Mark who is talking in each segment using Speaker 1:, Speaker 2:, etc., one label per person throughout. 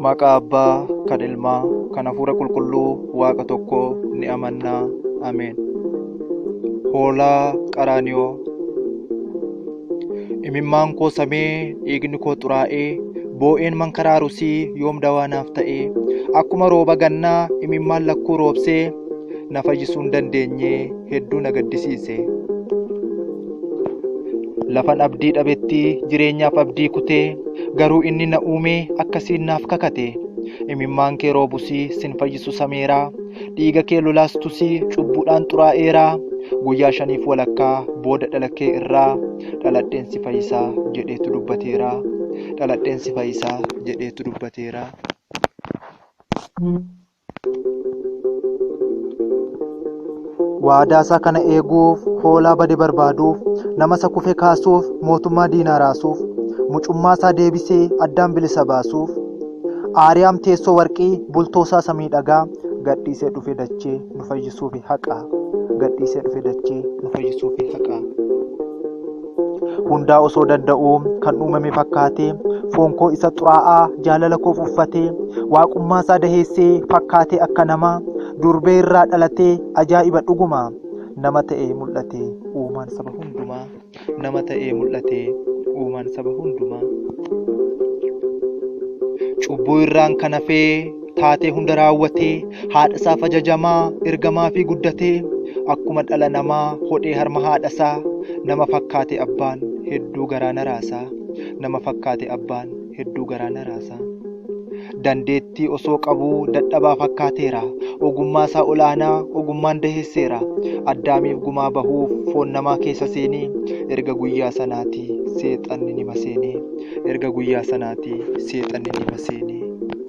Speaker 1: Maqaa Abbaa, kan Ilmaa, kan Hafuura Qulqulluu Waaqa tokko ni amanna. Ameen. Hoolaa Qaraaniyoo Imimmaan koo samee dhiigni koo xuraa'ee boo'een mankaraaru sii yoom dawaa naaf ta'ee akkuma rooba gannaa imimmaan lakkuu roobsee na fayyisuu hin dandeenye hedduu na gaddisiise. Lafan abdii dhabetti jireenyaaf abdii kutee garuu inni na uumee akkasiin naaf kakate. Imimmaan kee roobusii sin fayyisu sameeraa dhiiga kee lolaastusii cubbuudhaan xuraa'eeraa guyyaa shaniif walakkaa booda dhala kee irraa dhaladheen si fayyisaa jedheetu dubbateeraa dhaladheen si fayyisaa jedheetu dubbateeraa. Waadaa isaa kana eeguuf hoolaa bade barbaaduuf, nama isa kufe kaasuuf, mootummaa diinaa raasuuf, mucummaa isaa deebisee addaan bilisa baasuuf, Aariyaam teessoo warqii, bultoo isaa isa miidhagaa, gadhiisee dhufe dachee nu fayyisuufi haqaa. Gadhiisee dhufe dachee nu fayyisuufi haqaa. hundaa osoo danda'uu kan uumame fakkaatee foon koo isa xuraa'aa jaalala koof uffatee waaqummaa isaa daheessee fakkaatee akka namaa durbee irraa dhalatee ajaa'iba dhuguma nama ta'ee mul'ate uumaan saba hundumaa nama ta'ee mul'ate uumaan saba hundumaa cubbuu irraan kan hafee taatee hunda raawwatee haadhasaaf ajajamaa ergamaa fi guddatee akkuma dhala namaa hodhee harma haadhasaa nama fakkaate abbaan hedduu garaa naraasaa nama fakkaate abbaan hedduu garaa naraasaa dandeettii osoo qabuu dadhabaa fakkaateera ogummaa isaa olaanaa ogummaan daheesseera addaamiif gumaa bahuuf foon namaa keessa seenee erga guyyaa sanaati seexanni nima seenee erga guyyaa sanaati seexanni nima seenee.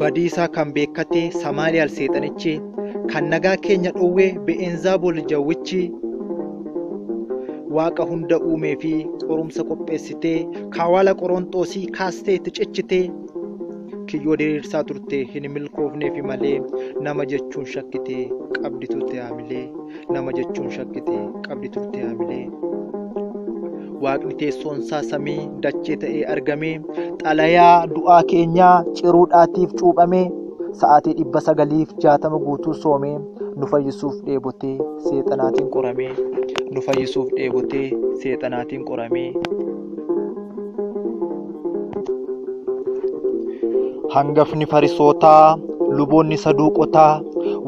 Speaker 1: badiisaa kan beekkate samaaliyaal seexanichi kan nagaa keenya dhowwee be'eenzaabol jawwichi waaqa hunda uumee fi qorumsa qopheessitee kawaala qoronxoosii kaastee itti cichitee kiyyoo diriirsaa turte hin milkoofneefi malee nama jechuun shakkitee qabdi turte haamilee nama jechuun shakkite qabdi turte haamilee. Waaqni teessoonsaa samii dachee ta'ee argame xalayaa du'aa keenyaa ciruudhaatiif cuuphame sa'aatii dhibba sagaliif jaatama guutuu soomee nu fayyisuuf dheebotee seexanaatiin qoramee nu fayyisuuf dheebotee seexanaatiin qoramee. Hangafni farisootaa, luboonni saduuqotaa,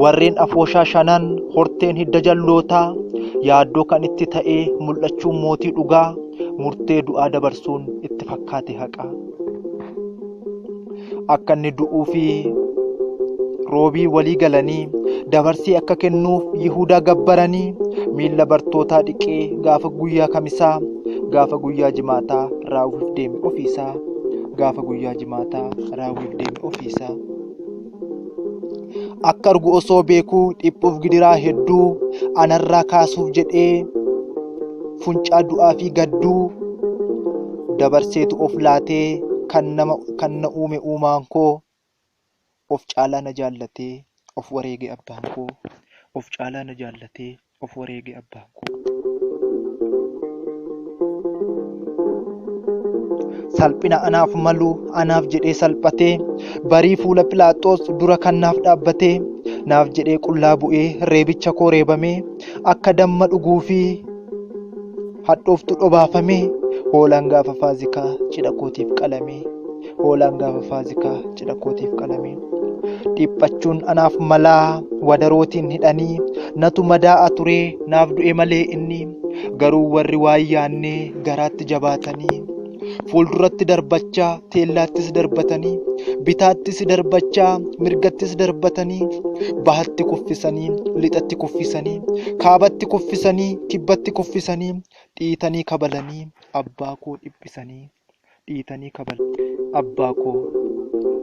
Speaker 1: warreen afooshaa shanan, horteen hidda jallootaa, yaaddoo kan itti ta'ee mul'achuun mootii dhugaa, murtee du'aa dabarsuun itti fakkaate haqaa. akka inni du'uu fi roobii walii galanii dabarsee akka kennuuf Yihudaa gabbaranii miilla bartootaa dhiqee gaafa guyyaa kamisaa gaafa guyyaa jimaataa raawwiif deeme ofiisaa gaafa guyyaa jimaataa raawwiif deeme ofiisaa. Akka argu osoo beekuu dhiphuuf gidiraa hedduu anarraa kaasuuf jedhee funcaa du'aa fi gadduu dabarseetu of laatee kan nama kan na uume uumaan koo of caalaa na jaallatee of wareege abbaan koo of caalaa na jaallatee. Of wareege abbaan koo. Salphina anaaf malu anaaf jedhee salphatee barii fuula Philaaxoos dura kan naaf dhaabbatee naaf jedhee qullaa bu'ee reebicha koo reebamee akka damma dhuguu fi hadhooftu dhobaafamee hoolaan gaafa faazikaa cidha kootiif qalamee hoolaan gaafa faazikaa cidha kootiif qalamee dhiphachuun anaaf malaa wadarootiin hidhanii natu madaa'a turee naaf du'e malee inni garuu warri waan yaannee garaatti jabaatanii fuulduratti darbachaa teellaattis darbatanii bitaattis darbachaa mirgattis darbatanii bahatti kuffisanii lixatti kuffisanii kaabatti kuffisanii kibbatti kuffisanii dhiitanii kabalanii abbaa koo dhiphisanii. dhiitanii kabajaa abbaa koo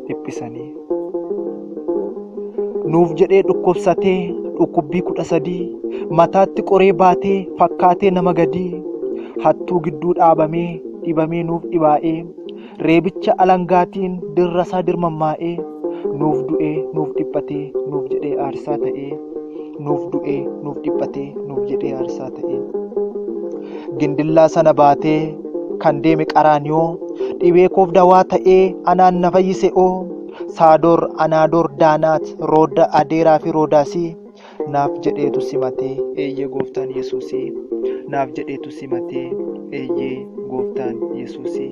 Speaker 1: dhiphisanii. Nuuf jedhee dhukkubsatee dhukkubbii kudha sadii mataatti qoree baatee fakkaatee nama gadii hattuu gidduu dhaabamee dhibamee nuuf dhibaa'ee reebicha alangaatiin dirrasaa dirmammaa'ee nuuf du'ee nuuf dhiphatee nuuf jedhee aarsaa ta'ee. nuuf du'ee nuuf dhiphatee nuuf jedhee aarsaa ta'ee gindillaa sana baatee kan deeme qaraaniyoo dhibee koof dawaa ta'ee anaan na fayyise oo saadoor anaadoor daanaat rooda adeeraa fi roodaasii naaf jedheetu simatee eeyyee gooftaan yesuusii naaf jedheetu simatee eeyyee gooftaan yesuusii.